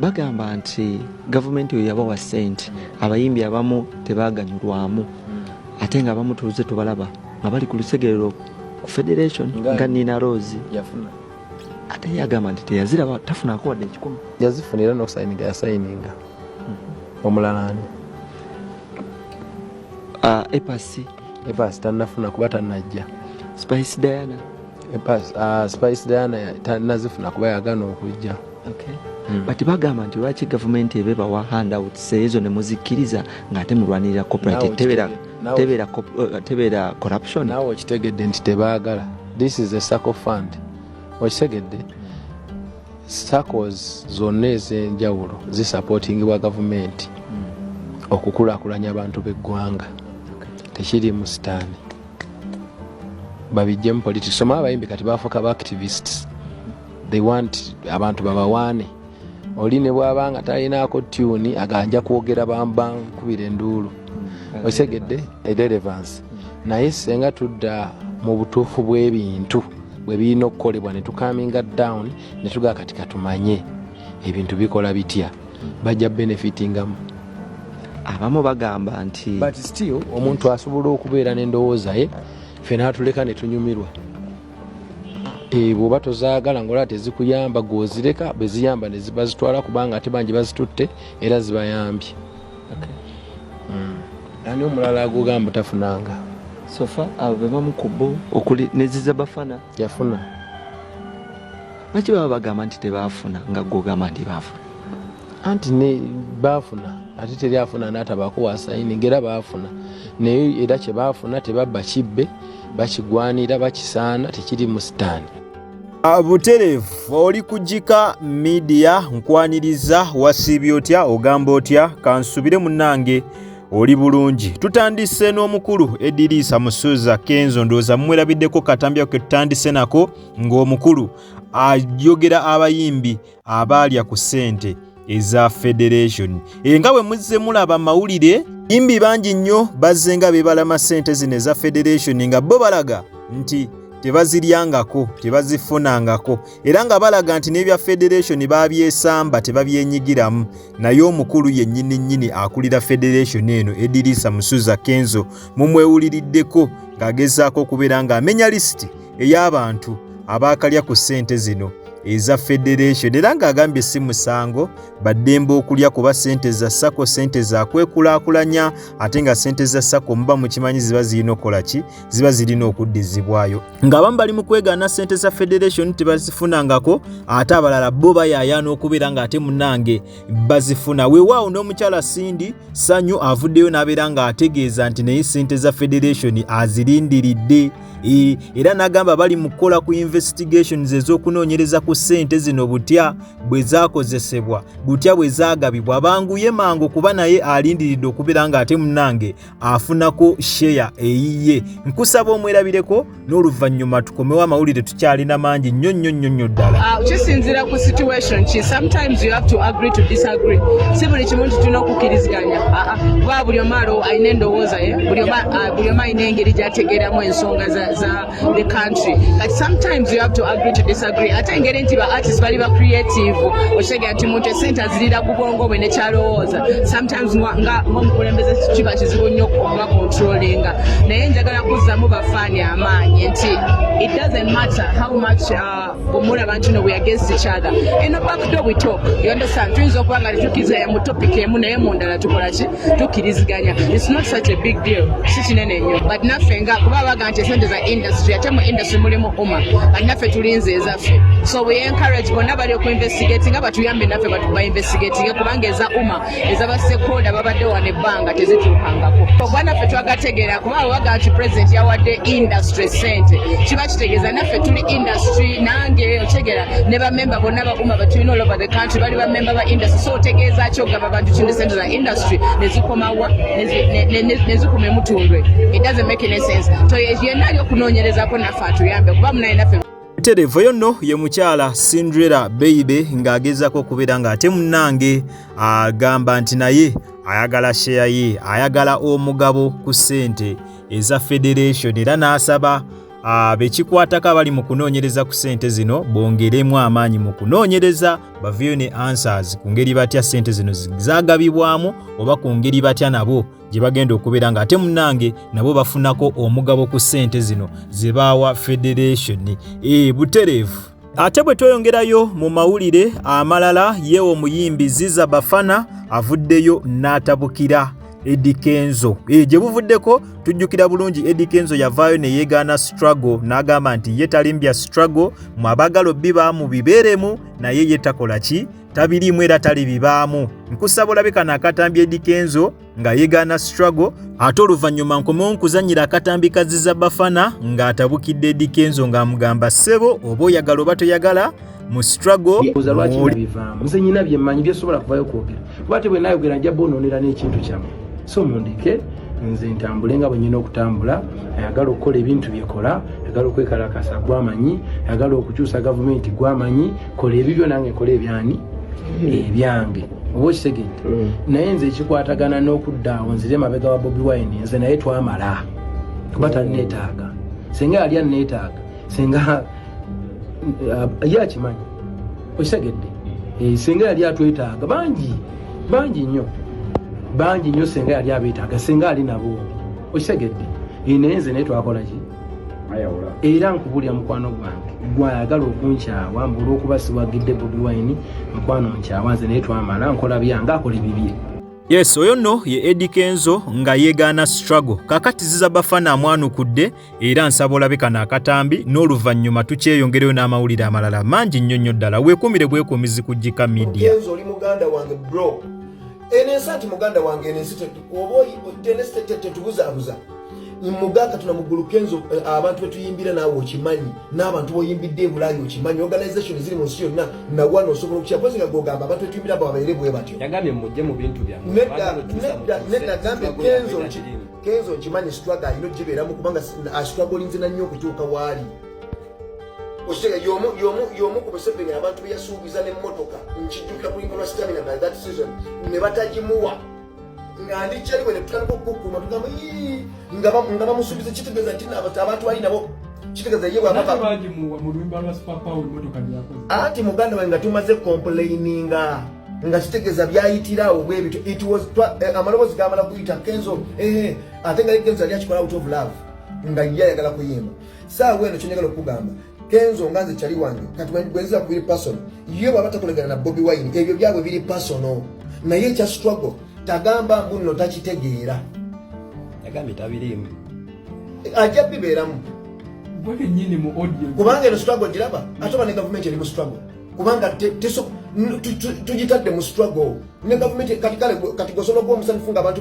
bagamba nti gavumenti oyo yabawa sente abayimbi abamu tebaganyulwamu ate nga abamu tuuze tubalaba nga bali ku lusegerero ku federation nga nina rose ate yagamba nti teyaziraba tafunako wadde ekikumi yazifunira nokusayininga yasayininga omulala ani ah, epasi epasi tanafuna kuba tanajja spice diana epasi ah, spice diana tanazifuna kuba yagana okujja okay. Hmm. but bagamba nti lwaki gavumenti ebe bawa handouts ezo ne muzikkiriza ng'ate mulwanirira copyright tebeera tebeera eh, tebeera corruption nawe okitegedde nti tebaagala this is a circle fund okitegedde sacos zonna ez'enjawulo zisapotingibwa gavumenti okukulakulanya abantu b'eggwanga tekiri mu sitaani babijjemu politics soma abayimbi kati bafuuka ba activists they want abantu babawaane oli ne bwaba nga talinaako tyuni aganja kwogera bambankubira enduulu mm. osegedde erelevance naye senga tudda mu butuufu bw'ebintu bwe birina okukolebwa ne tukaminga down ne tugaa kati katumanye ebintu bikola bitya bajja benefitingamu abamu bagamba nti but still omuntu asobola okubeera n'endowooza ye fe natuleka ne tunyumirwa eh, bwoba tozaagala ngaolaba tezikuyamba gwozireka bweziyamba nezibazitwala kubanga ate bangi bazitutte era zibayambye hmm. ani omulala agugamba tafunanga sofa abo bebamu ku bo okuli neziza bafana yafuna lwaki baba bagamba nti tebafuna nga gogamba nti bafuna anti ne bafuna ate teri afuna natabaako wasayini ngaera bafuna naye era kyebafuna tebabba kibbe bakigwanira bakisaana tekiri mu sitaani Ah, buterevu oli kugika midiya nkwaniriza wasiibye otya ogamba otya kansubire munange oli bulungi tutandise n'omukulu ediriisa musuuza kenzo ndowooza mumwerabiddeko katambya ke tutandise nako ng'omukulu ayogera abayimbi abaalya ku ssente eza federation e nga bwe muzze mulaba amawulire imbi bangi nnyo bazze nga bebalama ssente zino eza federation nga bo balaga nti tebaziryangako tebazifunangako era nga balaga nti n'ebya federation babyesamba tebabyenyigiramu naye omukulu yennyini nnyini akulira federation eno ediriisa musuza kenzo mumwewuliriddeko ng'agezaako okubeera ng'amenya lisiti ey'abantu abaakalya ku ssente zino eza federation era ng'agambye si musango baddembe okulya kuba ssente za sako ssente zakwekulaakulanya ate nga ssente za sako muba mukimanyi ziba zirina okukola ki ziba zirina okuddizibwayo ng'abamu bali mu kwegaana ssente za federation tebazifunangako ate abalala bo bayayaana okubeera ng'ate munange bazifuna weewaawo n'omukyala sindi sanyu avuddeyo n'abeera ng'ategeeza nti naye ssente za federation azirindiridde e, era n'agamba bali mu kukola ku investigations ez'okunoonyereza ku ssente zino butya bwe zaakozesebwa butya bwe zaagabibwa banguye mangu kuba naye alindiridde okubeera ng'ate munange afunako sheya eyiye nkusaba omwerabireko n'oluvannyuma tukomewo amawulire tukyalina mangi nnyo nnyo nnyo nnyo ddala ah, kisinzira ku situation ki sometimes you have to agree to disagree si buli kimu nti tulina okukkiriziganya ah, ah. kuba buli omu alo alina endowooza ye buli omu buli omu alina engeri gyategeeramu ensonga za, za the country but sometimes you have to agree to disagree ate engeri nti ba artist bali ba creative okitegera nti muntu esente azirira ku bwongo bwe nekyalowooza sometimes nga omukulembeze kiba kizibu nnyo okuba controllinga naye njagala kuzzamu bafaani amaanyi nti it doesn't matter how much uh, omulaba nti no weagainst each other eno backdo we talk you understand tuyinza okuba nga tetukiriziganya mu topic emu naye mu ndala tukola ki tukiriziganya its not such a big deal si kinene nnyo but naffe nga kuba baga nti esente za industry ate mu industry mulimu uma but naffe tulinze ezaffe so we encourage bonna bali okuinvestigati nga batuyambe naffe batuba investigatinge kubanga eza uma ezabasekonda babadde wano ebbanga tezituukangako ogwa naffe twagategeera kuba abo bagamba nti pulezidenti yawadde industry sente kiba kitegeeza naffe tuli industry nange otegera ne bamemba bonna bakuma betulina all over the country bali bamemba ba industry so otegeeza ki ogamba abantu kindi sente za industry nezikomawa nezikuma emutundwe it doesn't make any sense so yenna ali okunoonyerezako naffe atuyambe kuba munaye naffe Terevo yonno ye mukyala Cinderella Beibe ng'agezaako okubeera ng'ate munnange agamba nti naye ayagala sheya ye ayagala omugabo ku ssente eza federation era n'asaba bekikwatako abali mu kunoonyereza ku ssente zino bongeremu amaanyi mu kunoonyereza baveyo ne answers ku ngeri batya ssente zino zagabibwamu oba ku ngeri batya nabo gye bagenda okubeera nga ate munange nabo bafunako omugabo ku ssente zino ze baawa federation e butereevu ate bwe tweyongerayo mu mawulire amalala ye omuyimbi ziza bafana avuddeyo n'atabukira Eddie Kenzo e, gye buvuddeko tujjukira bulungi Eddie Kenzo yavaayo ne yeegaana struggle n'agamba nti ye talimbya struggle mu abagala obbi baamu bibeeremu naye ye takola ki tabiriimu era talibibaamu nkusaba olabe kano akatambi edikenzo nga yegaana struggle ate oluvannyuma nkomewo nkuzannyira akatambi kaziza bafana ng'atabukidde edikenzo ng'amugamba ssebo oba oyagala oba toyagala mu struggle nze nyina byemmanyi byesobola kuvayo kwogera kuba te bwenayogera nja bonoonera n'ekintu kyamu so mundeke nze ntambule nga bwenyina okutambula ayagala okukola ebintu byekola ayagala okwekalakasa gwamanyi ayagala okukyusa gavumenti gwamanyi kola ebibyo nange nkola ebyani ebyange oba okitegere mm. naye nze ekikwatagana n'okudda awo nzire emabega wa bobi wine nze naye twamala kuba tanneetaaga singa yali anneetaaga singa eh, ye akimanyi okitegedde eh, singa yali atwetaaga bangi bangi nnyo bangi nnyo singa yali abeetaaga singa ali nabo okitegedde eh, naye nze naye twakolaki era nkubulira mukwano gwange gwayagala okunkyawa mbu olwokuba siwagidde bobi wine mukwano nkyawa nze naye twamala nkola byange akola ebibye yes oyo nno ye edi kenzo nga yeegaana struggle kakati ziza bafana amwanukudde era nsaba olabe kano akatambi n'oluvannyuma tukyeyongereyo n'amawulire amalala mangi nnyo nnyo ddala weekuumire bwekuumizi ku jika media eno ensi ati muganda wange eno ensi oba tenetetubuzabuza muga katonda muggulu kenzo eh, abantu betuyimbira naawe okimanyi n'abantu boyimbidde ebulayi okimanyi organization ziri mu nsi yonna nawana osobola okukya pozi nga gogamba abantu betuyimbira abo babeere bwe batyo nedda gambe kenzo kenzo nkimanyi struggle alina ogibeeramu kubanga astruggle ah, nzina nnyo okutuuka waali okitega yomu ku museveni abantu beyasuubiza nemotoka nkijjukira kulinga lwa stamina by that season ne batagimuwa nga ndi kyaliwe netutandika okukukuma tugamba nga bamusuubiza kitegeeza nti abantu bali nabo kitegeeza ye bwabaanti muganda wange nga tumaze complaininga nga kitegeeza byayitirawo bwebityo eh, amaloboozi gamala kuyita kenzo eh, eh, ate nga kenzo yali akikola out of love nga ye ayagala kuyimba saawa eno kyenjagala okugamba kenzo nga nze kyali wange kati bwenziba ku biri personal ye bwaba takolegana na bobi wine ebyo byabwe biri personal naye ekya struggle tagamba mbu nno takitegeera yagambye tabiriimu ajja bibeeramu kubanga eno struggle giraba ate oba ne gavumenti eri mu struggle kubanga tugitadde mu struggle ne gavumenti kati kale kati gosobola okuba omusanifu nga abantu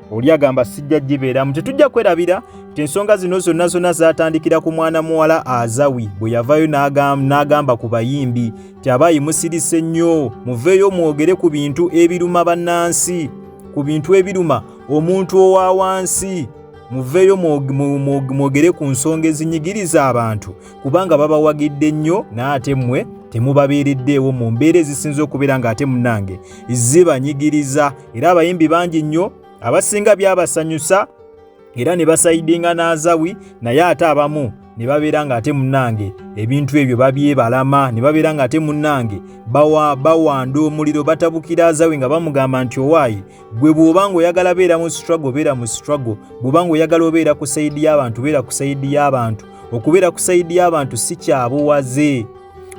oli agamba sijja gibeeramu tetujja kwerabira nti ensonga zino zonna zonna zaatandikira ku mwana muwala azawi bwe yavayo n'agamba ku bayimbi nti abaayi musirise nnyo muveeyo mwogere ku bintu ebiruma bannansi ku bintu ebiruma omuntu owa wansi muveeyo mwogere ku nsonga ezinyigiriza abantu kubanga babawagidde nnyo n'ate mmwe temubabeereddeewo mu mbeera ezisinza okubeera ng'ate munnange zibanyigiriza era abayimbi bangi nnyo abasinga byabasanyusa era ne basayidinga n'azawi naye ate abamu ne babeera ng'ate munnange ebintu ebyo babyebalama ne babeera ng'ate munnange bawa bawanda omuliro batabukira azawe nga bamugamba nti owaayi gwe bw'oba ng'oyagala beera mu struggle beera mu struggle bw'oba ng'oyagala obeera ku sayidi y'abantu beera ku sayidi y'abantu okubeera ku sayidi y'abantu si kyabuwaze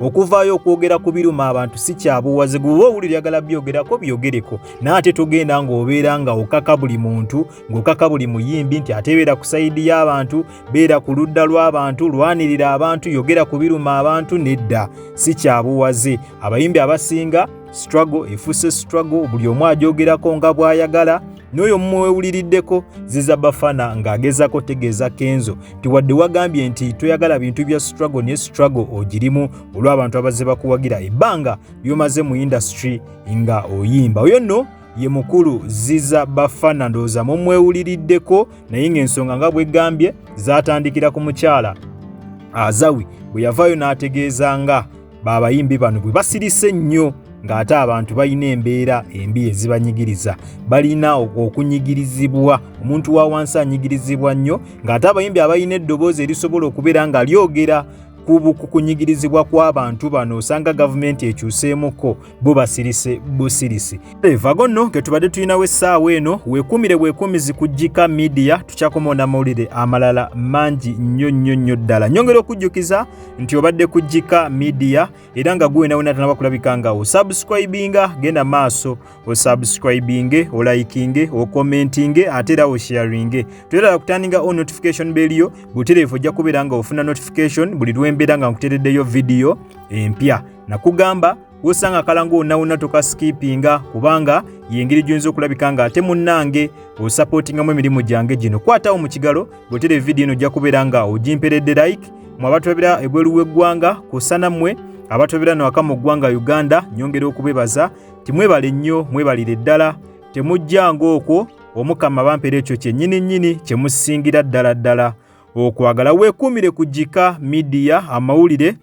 okuvaayo okwogera ku biruma abantu si kyabuwaze gwe oba owulira yagala byogerako byogereko naye ate togenda ng'obeera nga okaka buli muntu ng'okaka buli muyimbi nti ate beera ku sayidi y'abantu beera ku ludda lw'abantu lwanirira abantu yogera ku biruma abantu nedda si kyabuwaze abayimbi abasinga struggle efuuse struggle buli omu ajogerako nga bw'ayagala n'oyo mumwewuliriddeko ziza bafana ng'agezako tegeeza kenzo ti wadde wagambye nti toyagala bintu bya struggle ne struggle ogirimu olw'abantu abazze bakuwagira ebbanga lyomaze mu indasitry nga oyimba oyo nno ye mukulu ziza bafana ndowooza mumwewuliriddeko naye ng'ensonga nga bwegambye zatandikira ku mukyala azawi bwe yavaayo n'ategeeza nga babayimbi bano bwe basirise ennyo ng'ate abantu balina embeera embi ezibanyigiriza balina okunyigirizibwa omuntu wa wansi anyigirizibwa nnyo ng'ate abayimbi abalina eddoboozi erisobola okubeera nga lyogera ku kunyigirizibwa kw'abantu bano osanga gavumenti ekyuseemuko bubasirise busirisi vago nno ke tubadde tulinawo essaawa eno weekuumire bwekuumizi kujjika midiya tukyakomaona mawulire amalala mangi nnyo nnyo nnyo ddala nyongera okujjukiza nti obadde kujjika midiya era nga gwenaweena tanaba kulabika nga osubscribinga genda maaso osubscribinge olayikinge okomentinge ate era osharinge toyerala kutandinga o notification beliyo butereevu ojja kubeera nga ofuna notification buli lwembeera nga nkutereddeyo vidiyo empya nakugamba wosanga akala ng'onawona tokasikipinga kubanga yengeri gyoyinza okulabika nga ate munnange osapootingamu emirimu gyange gino kwatawo mu kigalo bwotera evidiyo eno ojja kubeera nga ogimperedde like mwe abatulabira ebweru w'eggwanga kusana mmwe abatulabira no aka mu ggwanga uganda nyongera okubebaza timwebale nnyo mwebalire ddala temujja ng'okwo omukama bampera ekyo kyennyini nnyini kye musingira ddala ddala okwagala weekuumire ku gika midiya amawulire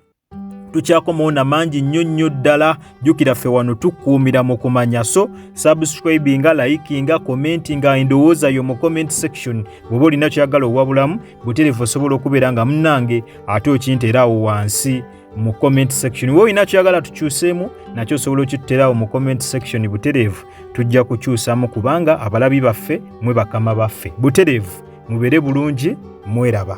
tukyakomawo na mangi nnyo nnyo ddala jjukira ffe wano tukuumira mu kumanya so subscribinga likinga commentinga endowooza yo mu comment section bw'oba olina kyagala owabulamu buterevu osobola okubeera nga munange ate okinteeraawo wansi mu comment section we olina kyagala tukyuseemu nakyo osobola okituterawo mu comment section buterevu tujja kukyusamu kubanga abalabi baffe mwe bakama baffe buterevu mubeere bulungi mweraba